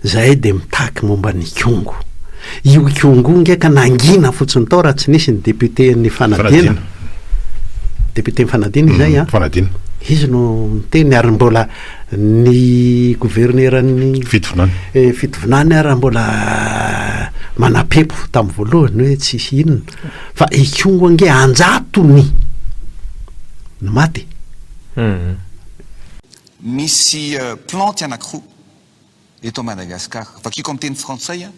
Zahay dia mitaky momba ny Ikongo. Io Ikongo nge ka nangina fotsiny tao raha tsy nisy ny député-n'ny Fanadina. Député-n'ny Fanadina izay an. Fanadina. Izy no niteny ary mbola ny governeran'ny Fitovinany. Eh, Fitovinany ary mbola manapempo tamin'ny voalohany hoe tsy hisy inona. Fa Ikongo nge anjatony no maty. Misy plantes anakiroa eto Madagascar. Vakiko amin'ny teny frantsay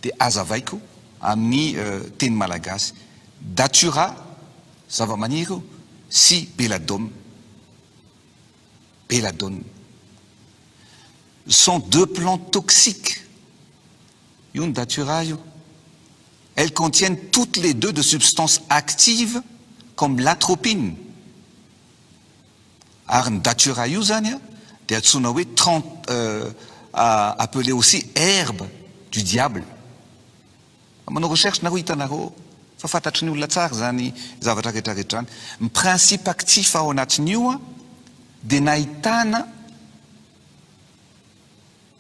dia azavaiko amin'ny teny malagasy. Datura, zavamaniry io, sy belladome, belladone, sont deux plantes toxiques io ny datura io. Elles contiennent toutes les deux de substances actives comme l'atropine. Ary ny datura io zany a de antsoina hoe trente euh appelé aussi herbe du diable. Manao recherche nareo hitanareo ao fa fantatry ny olona tsara zany zavatra rehetra rehetra zany. Ny principe actif ao anatin'io a de nahitana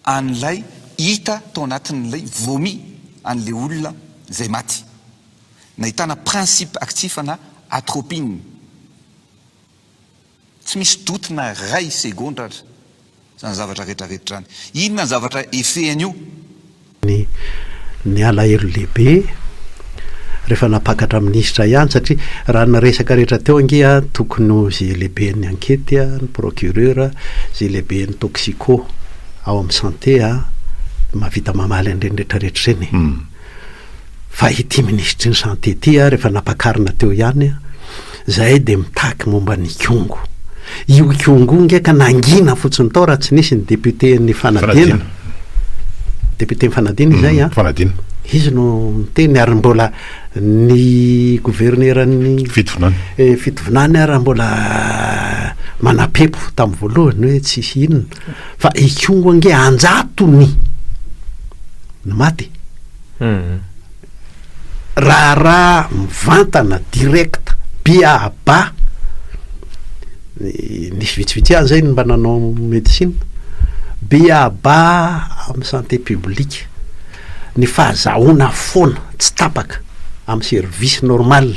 an'ilay hita tao anatin'ilay vomi an'le olona zay maty. Nahitana principe actif ana atropine. Tsy misy doute na ray segondra aza zany zavatra retraretra zany. Inona ny zavatra efehan'io? Ny ny alahelo lehibe rehefa nampakatra minisitra ihany satria raha ny resaka rehetra teo ange tokony ho ze lehiben'ny ankety ny procureur ze lehiben'ny toxico ao amin'ny santé mahavita mamaly an'ireny retraretra ireny e! Fa ity minisitry ny Santé ity ary efa nampakarina teo ihany an! Zahay dia mitaky momba ny Ikongo. Io Ikongo io nge ka nangina fotsiny tao raha tsy nisy ny député-n'ny Fanadina. Député-n'ny Fanadina izay an! Fanadina. Izy no niteny ary mbola ny governeran'ny Fitovinany. Fitovinany ary mbola manampepo tamin'ny voalohany hoe tsy hisy inona. Fa Ikongo ange an-jatony no maty. Raharaha mivantana direct be à bas nisy vitsivitsy ihany izay no mba nanao médecine be à bas amin'ny santé publique ny fahazahoana foana tsy tapaka amin'ny service normal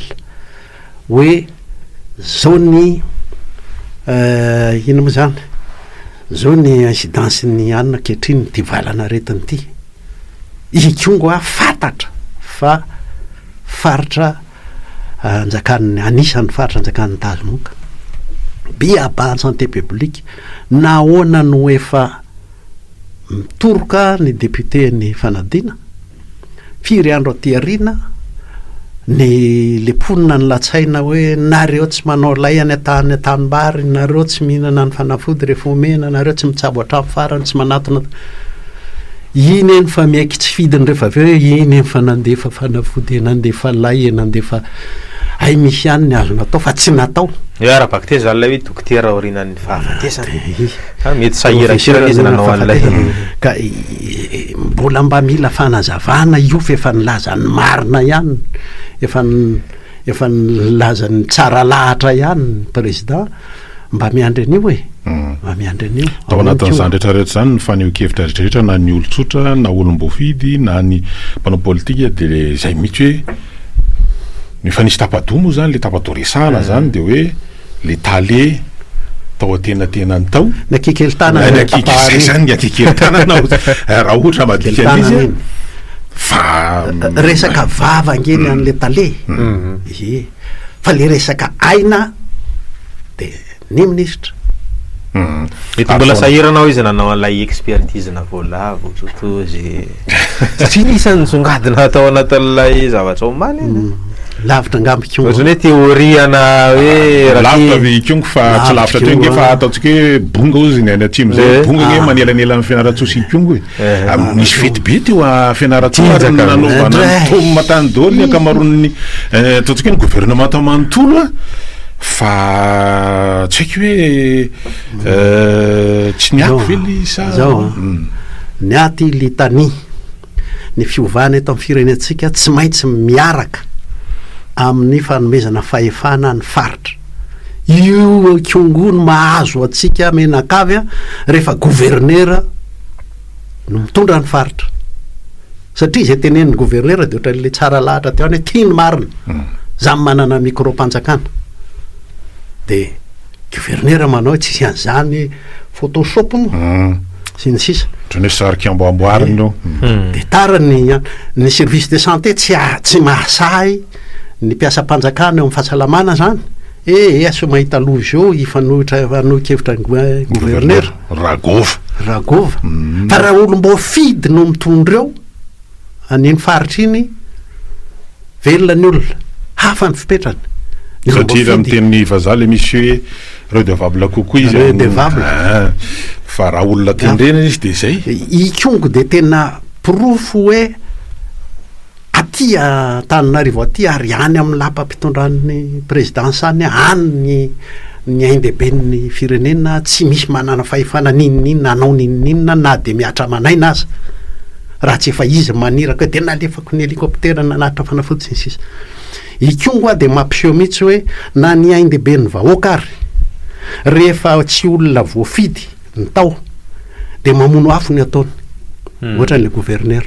hoe izao ny inona moa izany izao ny incidence ny anona ankehitriny ity valanaretina ity. Ikongo a fantatra fa faritra anjakan'ny anisan'ny faritra anjakan'ny tazomoka. BABA en santé publique nahoana no efa mitoroka ny député ny fanadina? Firy andro aty aoriana ny le mponina ny latsaina hoe nareo tsy manao lay any an-tany an-tanimbary, nareo tsy mihinana ny fanafody rehefa omena, nareo tsy mitsabo hatramin'ny farany, tsy manatona. Iny eny fa miaiky tsy fidiny rehefa avy eo hoe iny eny fa nandefa fanafody, nandefa lay, nandefa hay misy ihany ny azo natao fa tsy natao. Eo ara-bakiteny izany ilay hoe dokotera aorianan'ny fahafatesana. Fa mety sahiran-kerana izy nanao an'ilay. Ka mbola mba mila fanazavana io fa efa nilaza ny marina ihany, efa efa nilaza ny tsara lahatra ihany ny président. Mba miandry an'io e! Mba miandry an'io. Tao anatin'izany rehetra rehetra izany ny fanehoan-kevitra rehetra rehetra na ny olon-tsotra na olom-boafidy na ny mpanao politika dia le izay mihitsy hoe no efa nisy tapa-doha moa izany le tapa-doha resahana izany dia hoe le tale tao an-tenantenany tao. Ny akikelitana ny tapahary. Izany ny akikelitana raha ohatra madika an'izy fa resaka vava ange ny an'le tale. Ie. fa le resaka aina de ny ministra Mety mbola sahirana ao izy nanao an'ilay expertise-na voalavo totozy satria isan'ny nisongadina hatao anatin'ilay zavatra omaly izy. Mm. Lavitra angamba ikongo. Ohatrany hoe teoriana hoe lavitra ve ikongo fa tsy lavitra teo nge fa ataontsika hoe bonga ozy ny any atsimo zay. Eh. Bonga nge ah. manelanelana fianarantsoa sy ikongo e. Misy fety be teo a Fianarantsoa ary nanaovana ny Tom tany daholo ny ankamaroan'ny ataontsika hoe ny governemanta manontolo a, fa tsy haiko hoe tsy niato ve le sa. Zao a, niato i Litani, ny fiovana eto amin'ny firenentsika tsy maintsy miaraka amin'ny fanomezana fahefana ny faritra. Io kongo no mahazo antsika menakavy a rehefa governera. no mitondra ny faritra. Satria izay tenen'ny gouverneur dia ohatran'ilay tsara lahatra teo any tia ny marina. Hmm. Zany manana micro-panjakana. Dia gouverneur manao tsy hisy an'izany photoshop moa. Hmm. Sy ny sisa. Ohatran'ny hoe sarika amboamboarina io. Hmm. Dia tara ny ny service de santé tsy tsy mahasahy ny mpiasam-panjakana eo amin'ny fahasalamana zany. Eh, eh asio mahita loha izao hifanohitra hifanohi-kevitra ny gouverneur. Ragôva. Ragôva. Fa raha olom-boafidy no mitondra eo, an'iny faritra iny, velona ny olona. Hafa ny fipetrany. Satria raha miteny ny vazaha ilay misy hoe redevable kokoa izy amin'olona. Redevable. Ah, fa raha olona tendrena izy dia izay. Ikongo dia tena porofo hoe. aty Antananarivo aty ary any amin'ny lapam-pitondran'ny prezidansa any, any ny ny ain-dehiben'ny firenena, tsy misy manana fahefana n'inon'inona hanao n'inon'inona na dia mihatra aman'aina aza, raha tsy efa izy maniraka hoe dia nalefako ny helicoptera nanatitra fanafody sy ny sisa. I Kyongo a dia mampiseho mihitsy hoe na ny ain-dehiben'ny vahoaka ary rehefa tsy olona voafidy ny tao dia mamono afo ny ataony ohatra ny gouverneur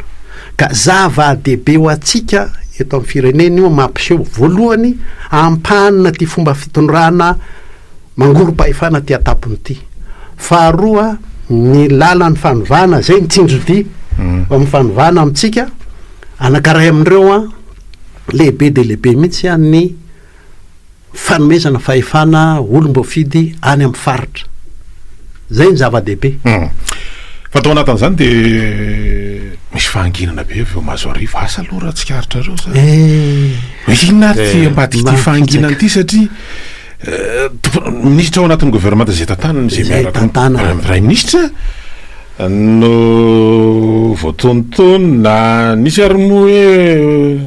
ka zava dehibe ho antsika eto amin'ny firenena io mampiseho voalohany ampanina ty fomba fitondrana mangorom-pahefana ty atapony ity faharoa ny lalan'ny fanovana zay ny tsinjodi hmm. amin'ny fanovana amintsika anakaray amin'ireo a lehibe dia lehibe mihitsy any fanomezana fahefana olom-boafidy any amin'ny faritra. Izay no zava-dehibe. Fa tao anatin'izany dia misy fahanginana be avy eo Mazoarivo. Asa aloha raha tsikaritra ireo izany. Eh. Hoe inona ary ity eh, ambadika ity fahanginana ity satria eh, minisitra ao anatin'ny governemanta izay tantanana izay miaraka amin'ny praiminisitra no voatontonina nisy ary moa hoe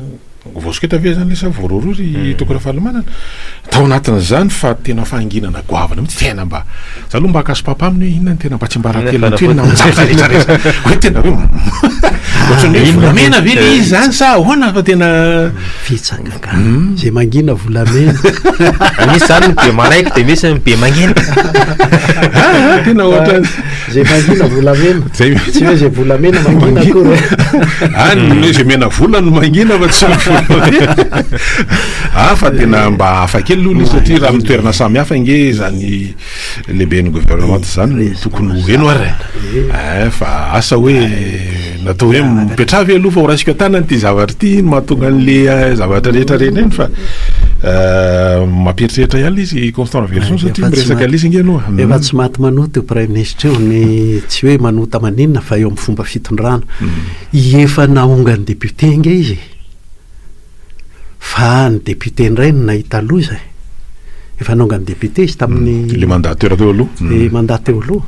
Voasoketa ve izany ilay sa voarohirohy ry Toky Rafalimanana? Tao anatin'izany fa tena fahanginana goavana mihitsy, tena mba, za aloha mba haka sopapa aminy hoe inona no tena mba tsiambarantelony ity hoe nanjaka rehetra rehetra, hoe tena hoe ohatran'ny hoe volamena ve ilay izy izany sa ahoana fa tena. Fitsangagana, izay mangina volamena. Misy izany ny be maraiky dia misy ny be mangina. Tena ohatran'ny. Zay mangina volamena. Zay mangina. Tsy hoe zay volamena mangina akory. Any ah, hoe zay mena vola no mangina fa tsy volamena. Ah fa tena mba hafa kely aloha izy satria raha mitoerana samy hafa nge zany lehiben'ny gouvernement zany tokony ho heno ary. Eh. eh fa asa hoe Natao hoe mipetraha ve aloha fa horaisiko an-tanana ity zavatra ity, ino mahatonga an'le eh, zavatra rehetra reny iny fa eh, mampieritreritra ihany ilay izy Constant Raveloson satria miresaka leasing ianao. Efa hmm. tsy maty manota io praiminisitra io ny tsy hoe manota maninona fa eo amin'ny fomba fitondrana. Hmm. Efa nahongan'ny député inge izy. Fa ny député indray no nahita loza e! Efa nongany député izy tamin'ny. Ilay mandat teo aloha. Ilay mandat teo aloha.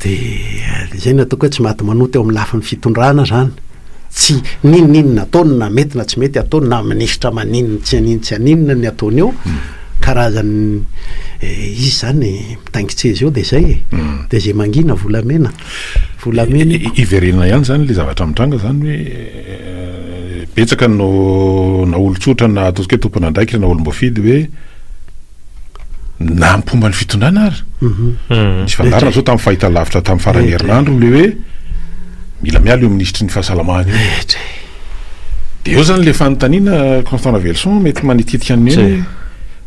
Dia izay no ataoko hoe tsy maty manoa teo amin'ny lafiny fitondrana izany. Tsy n'inon'inona ataony na mety na tsy mety ataony na minisitra maninona tsy an'inona tsy an'inona ny ataony eo, karazan'ny izy izany mitaingin-tseza eo dia izay e! Dia izay mangina volamena. volamena eko. Hiverenana ihany izany ilay zavatra mitranga izany hoe betsaka no na olon-tsotra na ataontsika hoe tompon'andraikitra na olom-boafidy hoe na ny mpomba ny fitondrana ary. Mhm. Ny fangarona izao tamin'ny fahitalavitra tamin'ny faran'ny herinandro ilay hoe mila miala io minisitry ny fahasalamana io. Dia eo izany ilay fanontaniana Constant Ravelison mety manititika an'i Neny hoe.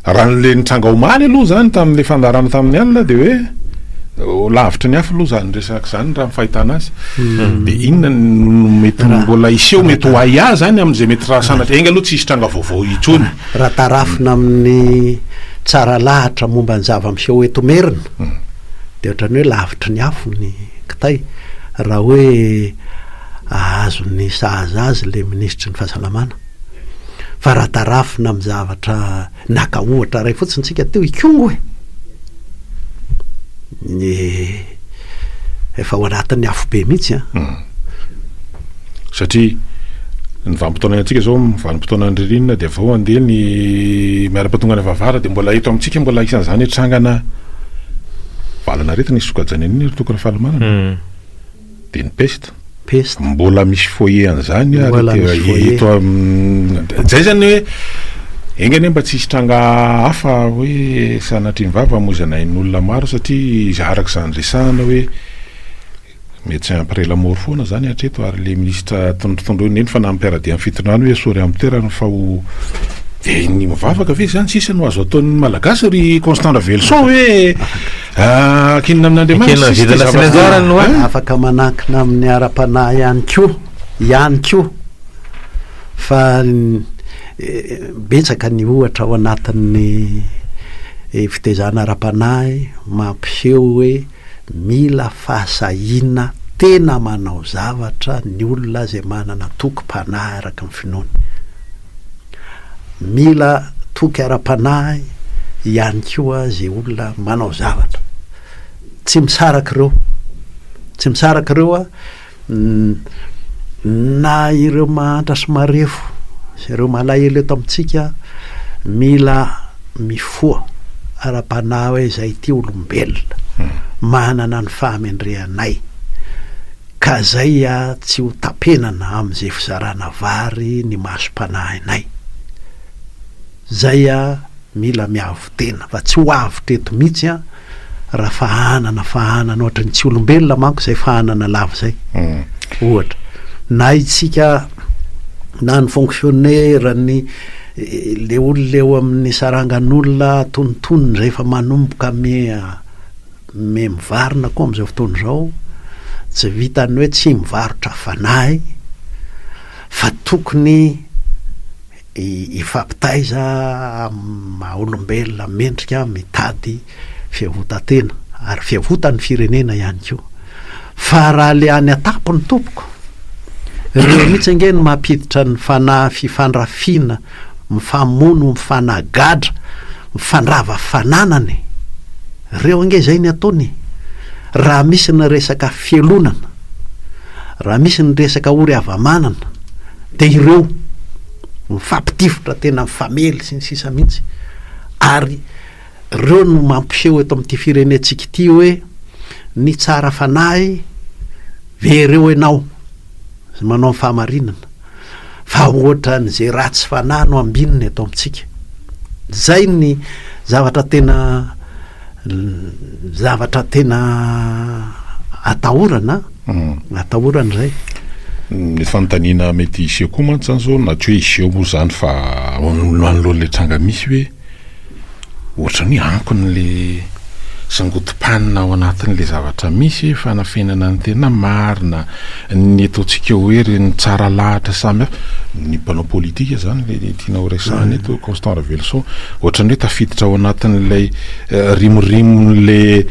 Raha ny le nitranga omaly aloha izany tamin'ilay fandaharana tamin'ny alina dia hoe lavitry ny hafa aloha izany resaka izany raha ny fahitana azy. Hmm. Dia inona no mety mbola hiseho mety ho ahiahy izany amin'izay mety raha sanatria enga aloha tsy hisy tranga vaovao intsony. Raha tarafina amin'ny tsara lahatra momba ny zava-miseho eto Merina hmm. dia ohatran'ny hoe lavitry ny afo ny kitay raha hoe ahazo ny sahaza azy ilay minisitry ny fahasalamana. Fa raha tarafina amin'ny zavatra naka ohatra iray fotsiny isika teo i Kongo e! Ny efa ao anatin'ny afobe mihitsy an! Hmm. Satria ny vanim-potoana iainantsika izao vanim-potoanan'ny ririnina dia vao handeha ny miaram-patongana vavara dia mbola eto amintsika mbola isan'izany trangana valan'aretina isokajan'ny an'iny ry Toko Rafalimanana. Hmm. Dia ny peste? Peste. Mbola misy foyer an'izany ary Mbola te- misy foyer. eto am- zay zany hoe enga anie mba tsy hisy tranga hafa hoe sanatrian'ny vava hamoizana ain'olona maro satria iza- araka izany resahana hoe médecin après la mort foana zany hatreto ary le ministra tondro- tondroina iny fa na ny mpiara-dia amin'ny fitondrana hoe esory amin'ny toerany fa ho dia ny mivavaka ve zany sisa no azo ataon'ny malagasy ry Constant Raveloson hoe Ekenina amin'Andriamanitra sisa ity zavatra ity. Afaka manankina amin'ny ara-panahy ihany koa, ihany koa, fa betsaka ny ohatra ao anatin'ny fitaizana ara-panahy mampiseho hoe mila fahasahiana tena manao zavatra ny olona izay manana tokim-panahy araka ny finoany. Mila toky ara-panahy ihany koa izay olona manao zavatra. Tsy misaraka ireo. Tsy misaraka ireo na ireo mahantra sy marefo sy ireo malahelo eto amintsika mila mifoha ara-panahy hoe izay ity olombelona, hmm. manana ny fahamendrehanay. Ka zay a tsy ho tapenana am ze fizarana vary ny maso panahinay zay a mila miavo tena fa tsy ho avotra eto mitsy a ra fahanana fahanana ohatry ny tsy olombelona manko zay fahanana lava zay ohatra na itsika na ny fonctionnaire ny le olona eo amin ny sarangan olona atonontonony rehefa manomboka mi Mme mivarina koa amin'izao fotoana izao tsy vitan'ny hoe tsy mivarotra fanahy fa tokony hifampitaiza amin'ny maha olombelona mendrika mitady fiavotan-tena ary fiavotan'ny firenena ihany koa. Fa raha ilay any an-tampony tompoko, ireo mihitsy ange no mampiditra ny fanahy fifandrafiana mifamono mifanagadra mifandrava fananana e! reo ange zay ny ataony e! raha misy ny resaka fialonana raha misy ny resaka ory havamanana de ireo mifampitifitra tena mifamely sy ny sisa mihitsy ary Ireo no mampiseho eto amin'ity firenentsika ity hoe ny tsara fanahy very eo ianao sy manao ny fahamarinana fa ohatran'izay ratsy fanahy no ambinina eto amintsika. Izay ny zavatra tena zavatra tena atahorana, hmm. atahorana izay. Ny fanontaniana mety hiseho koa mantsy izany izao na tsy hoe hiseho moa izany fa manoloana ilay tranga misy hoe Ohatrany hoe ankony le sangodim-panina ao anatin'le zavatra misy hoe fanafenana ny tena marina, ny ataontsika hoe ireny tsara lahatra samy hafa, ny mpanao politika zany le tianao resahana eto Constant Raveloson, ohatrany hoe tafiditra ao anatin'ilay rimorimon'le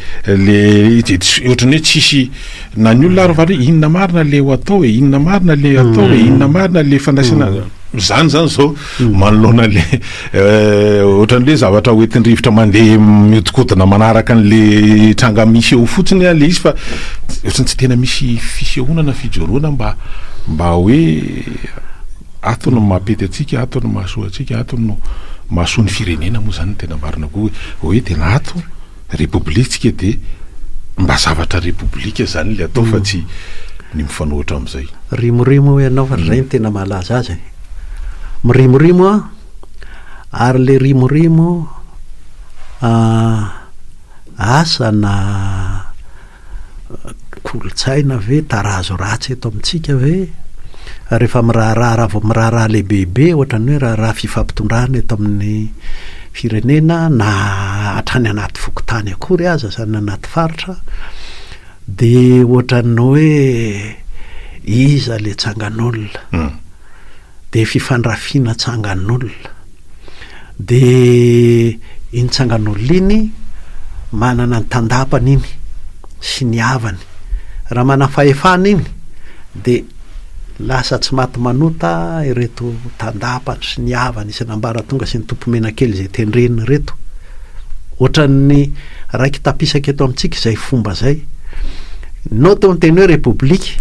le izy de ohatrany hoe tsisy na ny olona ary mivaly hoe inona marina le ho atao e, inona marina le atao e, inona marina le fandraisana, zany zany zao. manoloana le ohatran'le zavatra hoentin-drivotra mandeha mihodinkodina manaraka an'le tranga misy eo fotsiny le izy fa ohatrany tsy tena misy fisehoana na fijoroana mba mba hoe ato no mampety antsika ato no mahasoa antsika ato no mahasoa ny firenena moa zany ny tena marina koa hoe tena ato Repoblitsika dia mba zavatra repoblika izany ilay atao fa tsy ny mifanohitra amin'izay. Rimorimo hoy ianao fa izay no tena mahalaza azy e. Mirimorimo aho, ary ilay rimorimo asa na. Kolontsaina ve? Tarazo ratsy eto amintsika ve? Rehefa miraharaha, raha vao miraharaha lehibebe ohatra ny hoe raharaha fifampitondrana eto amin'ny firenena na hatrany anaty fokontany akory aza izany na anaty faritra dia ohatra ny hoe iza ilay tsangan'olona? dia fifandrafiana tsangan'olona. Dia iny tsangan'olona iny manana ny tandapany iny sy ny havany. Raha manam-fahefana iny dia lasa tsy maty manota ireto tandapany sy ny havany isan'ambaratonga sy ny tompomenakely izay tendreny ireto. Ohatran'ny raiki-tapisaka eto amintsika izay fomba izay. Nao teo ny teny hoe repoblika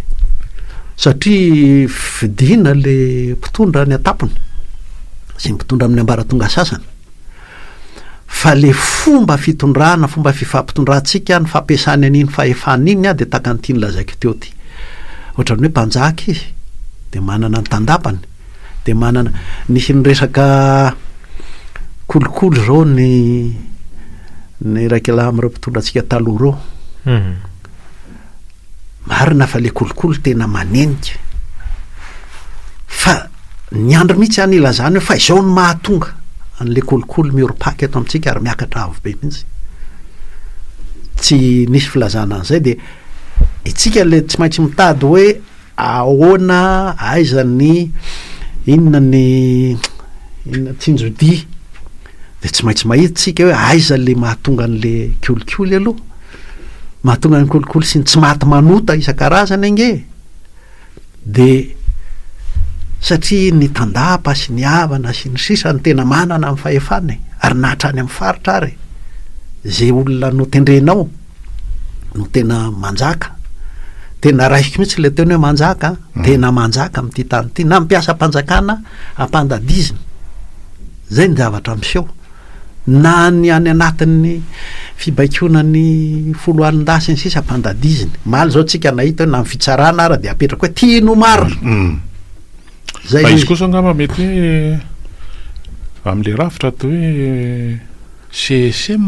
Satria fidiana le mpitondra any an-tampony sy mpitondra amin'ny ambaratonga sasany. Fa le fomba fitondrana, fomba fifampitondrantsika, ny fampiasany an'iny fahefana iny dia tahaka an'ity nolazaiko teo ty. Ohatran'ny hoe mpanjaka izy dia manana ny tandapany, dia manana, nisy ny resaka kolikoly zao ny ny iraikalahy amin'ireo mpitondra antsika taloha ireo. Marina fa le kolikoly tena manenika fa ny andry mihitsy any ilazana eo fa izao no mahatonga an'le kolikoly miorpac eto amintsika ary miakatra avo be mihitsy tsy nisy filazana an'izay dia itsika le tsy maintsy mitady hoe ahoana aiza ny inona ny inona tsinjodia dia tsy maintsy mahitsika hoe aiza le mahatonga an'le kolikoly aloha Mahatonga ny kolikoly sy ny tsy maty manota isan-karazany ange dia satria ny tandapa sy ny havana sy ny sisa no tena manana ny fahefana e, ary na hatrany amin'ny faritra ary izay olona notendrenao no tena manjaka. Tena raisiko mihitsy ilay teny hoe manjaka, mm. tena manjaka amin'ity tany ity na ny mpiasam-panjakana ampandadizina. Izay ny zavatra miseho. na ny any anatin'ny fibaikoana ny foloalindahy sy ny sisa ampandadiziny. Maly zao tsika nahita hoe na ny fitsarana ara dia apetrako hoe tiany ho marina. Mm. Zay Fa izy kosa angamba mety hoe amin'ilay rafitra atao hoe CSM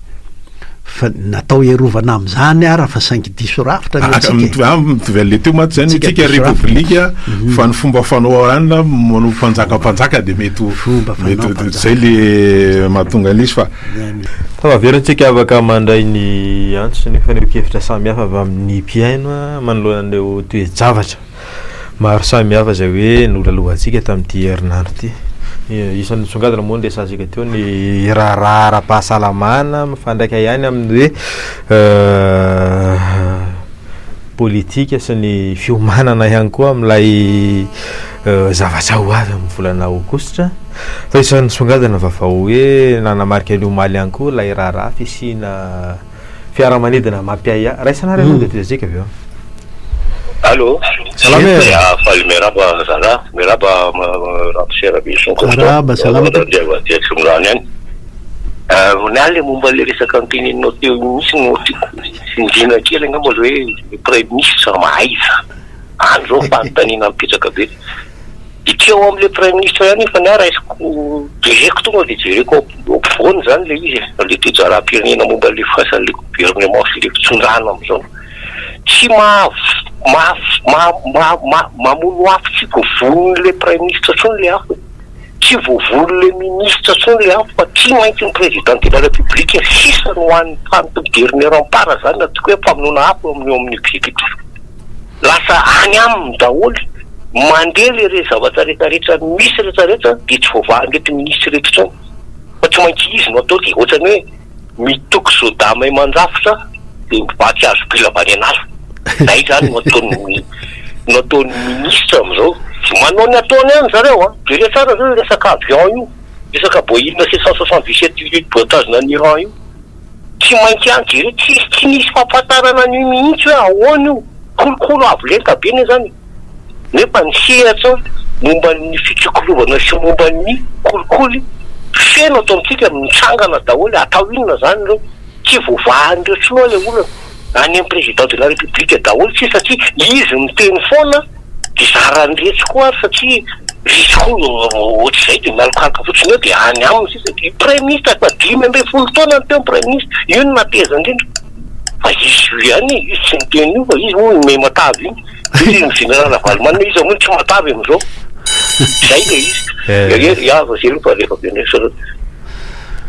Fa natao hiarovana amin'izany ara fa saingy diso rafitra ny antsika. Mitovy ah, mitovy an'le teo mantsy zany antsika repoblika mhm. fa ny fomba fanao anla manao mpanjaka mpanjaka dia mety mety izay le mahatonga an'le izy fa Tavaverantsika avaka mandray ny antso sy ny fanehoan-kevitra samihafa avy amin'ny mpihaino manoloana an'ireo toe-javatra. maro samihafa izay hoe nolalohantsika tamin'ity herinandro ity. Isan'ny nisongadina moa ny resahantsika teo ny raharaha ara-pahasalamana mifandraika ihany amin'ny hoe politika sy ny fiomanana ihany koa amin'ilay zavatra ho avy amin'ny volana aogositra. Fa isan'ny nisongadina vaovao hoe nanamarika ny omaly ihany koa ilay raharaha fisiana Fiaramanidina mampiahiahy. Raisanareo aloha dia tezika avy eo. Allo, Salama e. Ah, Faly miarahaba zala, miarahaba ma- ma- ramose Rabison Kosto. Miarahaba, salama Miarahaba tompoko. Andriambato aty Antsimondrano ihany. Ah, Ronald le momba le resaka noteneninao teo iny mihitsy no tiako tsindriana kely angamba le hoe le praiminisitra mahaiza. Any zao fanontaniana mipetraka be. Ity ao amin'ilay praiminisitra ihany efa ny ahy raisiko, jereko tonga dia jereko ao ampovoany izany ilay izy e, ilay toe-jaram-pirenena momba an'ilay fiasan'ilay governemanta sy ilay fitondràna amin'izao. Tsy mamono afo tsy voavonon'ilay praiminisitra intsony ilay afo e, tsy voavonon'ilay minisitra intsony ilay afo fa tsy maintsy ny Président de la République sisa no hany tany governeram-para izany na toa hoe famonoana afo eo amin'ny executif. Lasa any aminy daholo, mandeha le re zavatra rehetra rehetra misy rehetra rehetra de tsy voavahan reto minisitra reto intsony fa tsy maintsy izy no atao ty otrany hoe mitoky soda may mandrafitra de mivaky hazo bila avy any an'ala zay zany no ataony no ataony minisitra amizao manao ny ataony any zareo a jereo tsara zao io resaka avion io resaka boeing sept cent soixante dix sept io voatazona any Iran io. Tsy maintsy any jereo, tsisy tsy nisy fampatarana an'io mihitsy hoe ahoana io, kolokolo avo lenta be ne zany e, nefa ny sehatra momba ny fitsikilovana sy momba ny kolikoly feno ato amintsika mitsangana daholo, atao inona zany reo, tsy voavahan'ireo tsinoa le olana. any am président de la république daholo tsisy satria izy miteny foana de zarany retsy koa ary satria retsy koa no ohatr'izay de mialokaloka fotsiny eo de any aminy sisa de praiminisitra efa dimy ambin'ny folo taona no teo ny praiminisitra io no nahateza indrindra fa izy io ihany e izy tsy miteny io fa izy moa no miha matavy iny de izy no général ravalomanana izy zao moa tsy matavy am'zao zay le izy eh ya vao zay aloha fa rehefa avy eo ndraiky zareo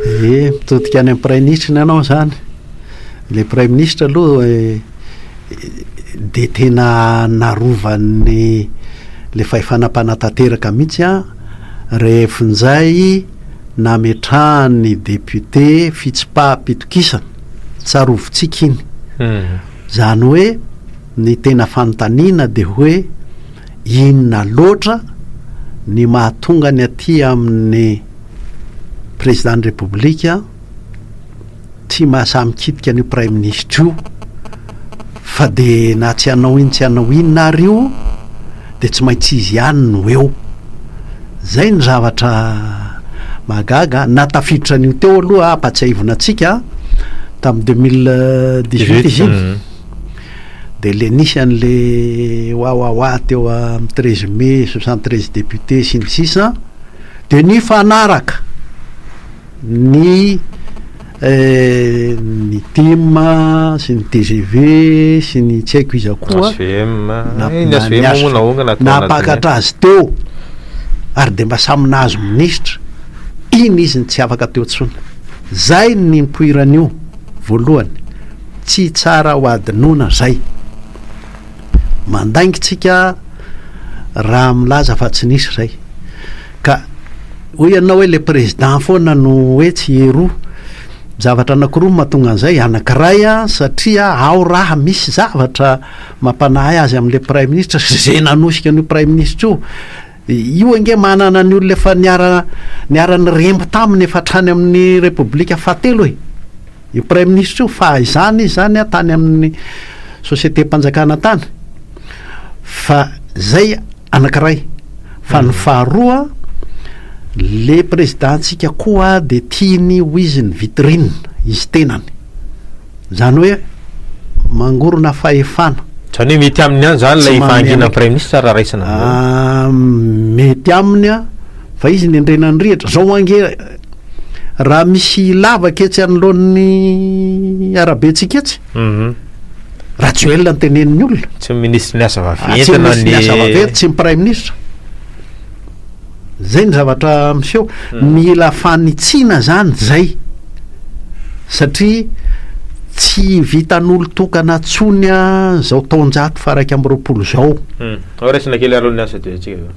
eh mitodika any am praiminisitra ny anao zany Ilay praiminisitra aloha dia tena narovany ilay fahefana mpanatanteraka mihitsy an, rehefa injay nametrahan'ny député fitsipaham-pitokisana, tsarovitsika iny. Izany hoe ny tena fanontaniana dia hoe inona loatra ny mahatonga ny aty amin'ny président-n'ny République, Tsy mahasahy mikitika an'io praiminisitra io fa dia na tsy hanao inn tsy hanao inn ary io dia tsy maintsy izy ihany no eo. Izay ny zavatra mahagaga an! Na tafiditra an'io teo aloha an, ampatsiahivina antsika an, tamin'ny deux mille dix huit izy iny dia ilay nisy an'ilay wawawa teo amin'ny treize mai, soixante treize députés sy ny sisa dia nifanaraka. ny ny tim sy ny tgv sy ny tsy haiko iza koa nampakatra azy teo ary dia mba samy nahazo minisitra iny izy no tsy afaka teo intsony zay ny nipoiran'io voalohany tsy tsara ho adinoina zay Mandainga tsika raha milaza fa tsy nisy zay. Ka hoy ianao hoe le président foana no hoe tsy eroa. Zavatra anakiroa no mahatonga an'izay, anakiray a, satria ao raha misy zavatra mampanahy azy amin'le praiminisitra sy ze nanosika an'io praiminisitra io. Io ange manana ny olona efa niara-niremby taminy efa hatrany amin'ny Repoblika fahatelo e! Io Praiminisitra io fahizany izy izany an tany amin'ny Sosietem-panjakana tany fa izay anankiray. Fa ny faharoa le Prezidantsika koa dia tiany ho izy ny vitrine, izy tenany. Izany hoe mangorona fahefana. Izany hoe mety aminy ihany izany ilay fahanginan'ny Praiminisitra raha raisina amin'izao? Mety aminy fa izy nendrena ny rihitra. Izao ange raha misy lavaka etsy anoloan'ny arabentsika etsy, Rajoelina no tenenin'ny olona. Tsy ny Minisitry ny Asa vaventy na ny. Tsy ny Minisitry ny Asa vaventy, tsy ny Praiminisitra. Zay ny zavatra miseho. Mila fanitsiana zany zay satria tsy vitan'olon-tokana tsony zao taonjato faha iraika amby roapolo zao. Hmm. Ao raisina kely aloha ny asa dia atsika zao.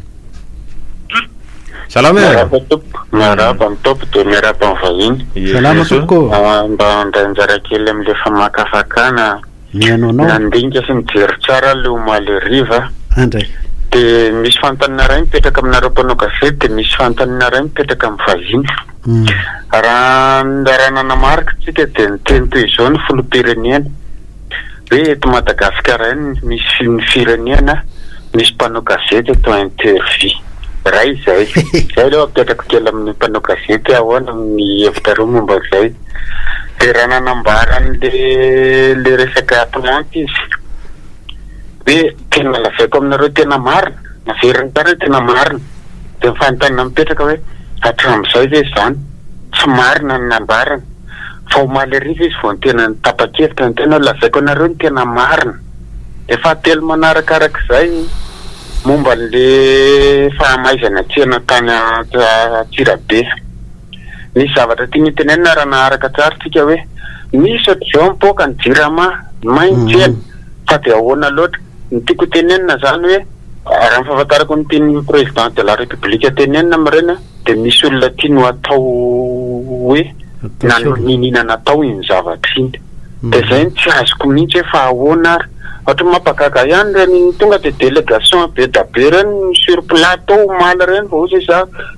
Salama e. Miarahaba tompoko. Miarahaba ny tompoko dia miarahaba ny vahiny. Salama tompoko. Ah, mba handray anjara kely amin'ilay famakafakana. mihaino anao. Nandinika sy nijery tsara aho le omaly hariva Andray. De misy fanontaniana iray mipetraka aminareo mpanao gazety de misy fanontaniana iray mipetraka amin'ny vahiny. Raha raha nanamarika tsika de niteny toy izao ny filoham-pirenena hoe eto Madagasikara ihany no misy ny firenena misy mpanao gazety atao interview. Iray izay. Zay aloha apetrako kely amin'ny mpanao gazety hoe ahoana ny hevitrareo momba izay. dia raha nanambara an'ilay le resaka plantes izy hoe tena lazaiko aminareo tena marina, naveriny tany hoe tena marina, dia ny fanontaniana mipetraka hoe hatramin'izay ve izany tsy marina ny nambarany? fa omaly hariva izy vao tena nitapa-kevitra ny tena hoe lazaiko anareo ny tena marina, dia fahatelo manarakarak'izay momba an'ilay fahamaizana tsena tany Antsirabe. Misy zavatra tiany hotenenina raha naharaka tsara tsika hoe misy ohatr'izao mipoaka ny jirama main tsena fa dia ahoana loatra? Ny tiako hotenenina zany hoe raha ny fahafantarako ny tian'ny président de la république tenenina amin'ireny dia misy olona tiany ho atao hoe nanolo niniana natao iny zavatra iny dia zay no tsy azoko mihitsy hoe fa ahoana ary? Ohatry ny mampagaga ihany ireny tonga dia délégation be da be ireny sur plateau omaly ireny vao ozy zah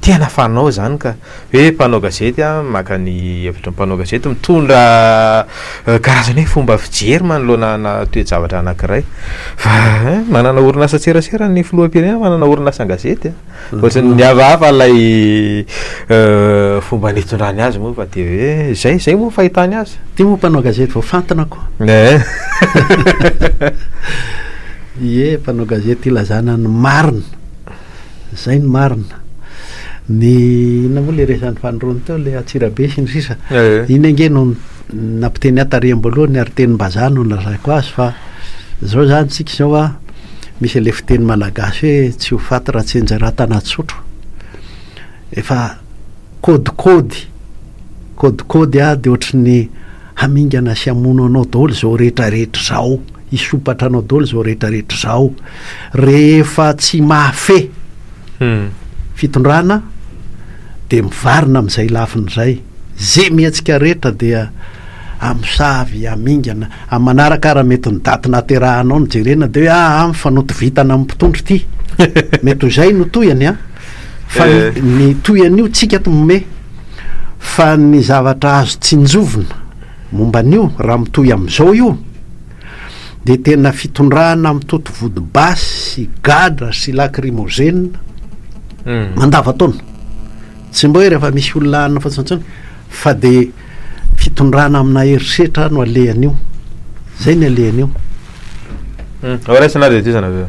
Tena fanao izany ka! Hoe mpanao gazety an, maka ny hevitry ny mpanao gazety, mitondra karazana hoe fomba fijery manoloana ana toe-javatra anankiray. Fa hein, manana orin'asan-tserasera ny filoham-pirenena, manana orin'asan-gazety an! Ohatry ny miavahava ilay fomba nitondrany azy moa fa dia hoe izay, izay moa ny fahitany azy. Ity moa mpanao gazety vao fantina ko! Hein! Ie, mpanao gazety ilazana ny marina! Zay ny marina. Ny inona moa ilay resan'i Fanirony teo ilay Antsirabe sy ny sisa. Iny ange no nampiteny ahy tariham-boalohany ary tenim-bazaha no nolazaiko azy fa zao zany tsika zao a misy ilay fiteny malagasy hoe tsy ho faty raha tsy enjehera tana-tsotro. Efa kôdikôdy kôdikôdy a de ohatry ny hamingana sy hamono anao daholo izao rehetra rehetra izao, hisompatra anao daholo izao rehetra rehetra izao, rehefa tsy mahafe fitondrana dia mivarina amin'izay lafiny izay, ze mihetsika rehetra dia hamosavy, hamingana, amin'ny manaraka ary mety ny daty naterahanao no jerena dia hoe aa ah, mifanoto vintana amin'ny mpitondra ity, mety ho izay no tohiny an, fa ny tohin'io tsika ato mome. Fa ny zavatra azo tsinjovina momba an'io, raha mitohy amin'izao io, dia tena fitondrana mitoto vody basy sy gadra sy lakrimozena hmm. mandavantaona. Tsy mba hoe rehefa misy olona anona fotsiny intsony, fa dia fitondrana amina herisetra no alehan'io. Zay ny alehan'io. Hmm. Raisina ary ity sanaveo.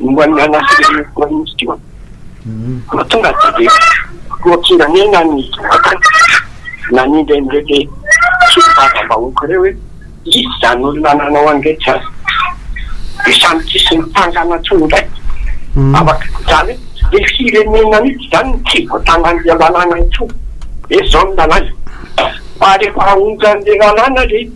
momba ny anatin'ireo Praiminisitra io. Vao tonga dia be filoham-pirenena ny vatany nanindry an'ireto solombavambahoaka ireo hoe iza izany olona nanao an'ireny izany. Dia samy tsisy nitsangana intsony indray. Afaka izany hoe ilay firenena mihitsy izany no tsy voatangan'ilay lalàna intsony. Dia izao ny lalàna. Fa rehefa onjan'ilay lalàna ilay izy.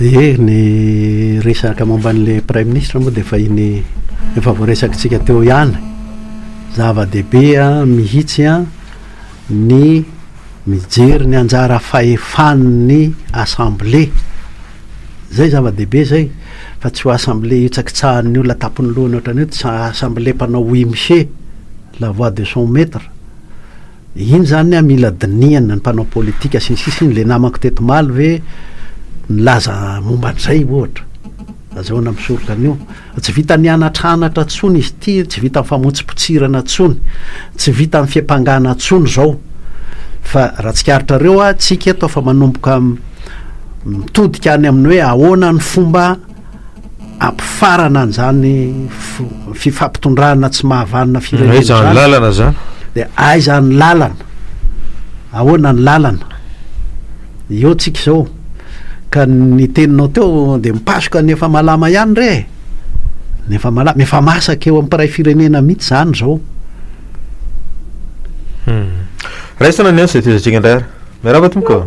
Ie, ny resaka momba an'ilay praiminisitra moa dia efa iny efa voaresakitsika teo ihany. Zava-dehibe mihitsy ny mijery ny anjara fahefan'ny Assemblée. Izay zava-dehibe izay, fa tsy ho Assemblée hitsakitsahan'ny olona an-tampon'ny lohany ohatran'ny hoe tsy Assemblée mpanao wimche, la voix de son maitre. Iny zany an mila dinihana ny mpanao politika sy ny sisa iny le namako teto omaly ve nilaza momba an'izay ohatra azahoana misoroka an'io tsy vitan'ny hanatranatra tsony izy ity tsy vitan'ny famotsipotsirana tsony tsy vitan'ny fiampangana tsony zao fa raha tsikaritrareo a tsika eto fa manomboka mitodika any amin'ny hoe ahoana ny fomba hampifarana an'izany fifampitondrana tsy mahavanona firenena izany. Aiza ny lalana izany? Dia aiza ny lalana? Ahoana ny lalana? Eo tsika izao. Ka ny teninao teo dia mipasoka ny efa malama ihany re e. Ny efa malama, efa masaka eo amin'ny mpiray firenena mihitsy izany izao. Hmm. Raisina ny ansa, fehezantsika indray ary. Miarahaba tompoko.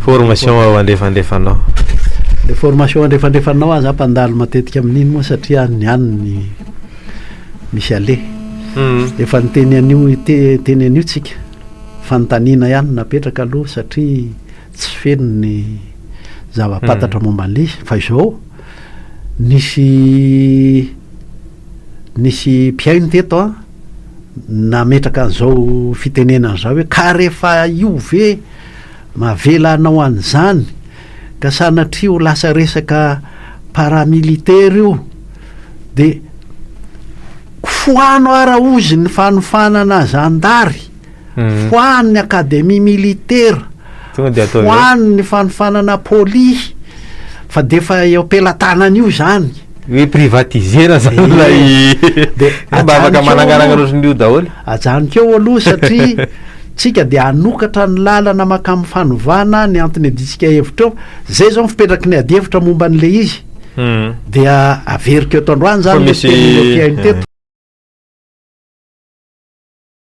Formation ao andrefandrefanao. Le formation andrefandrefanao aza mpandalo matetika amin'iny moa satria any any ny misy ale hmm. efa ny teny an'io teny an'io tsika fanontaniana ihany napetraka aloha satria tsy feno ny zava-pantatra hmm. momba an'ilay izy fa izao nisy nisy mpihaino teto a nametraka an'izao fitenenana izao hoe, ka rehefa io ve mavela hanao an'izany, ka sanatria ho lasa resaka paramilitaire io, dia foano ara ozy ny fanofanana zandary. foanin'ny akademia militera, foanin'ny fanofanana polisy, fa dia efa eo am-pelatanana io izany. Hoe privatiser-na izany ilay dia mba afaka manangaranga loatra an'io daholo. Ajanoko eo aloha satria tsika dia hanokatra ny lalana mankamin'ny fanovana ny antony adintsika hevitra eo. Izay izao ny fipetraky ny adihevitra momba an'ilay izy. Hmm. Dia averiko eto androany izany ilay tenin'ny OPM teto.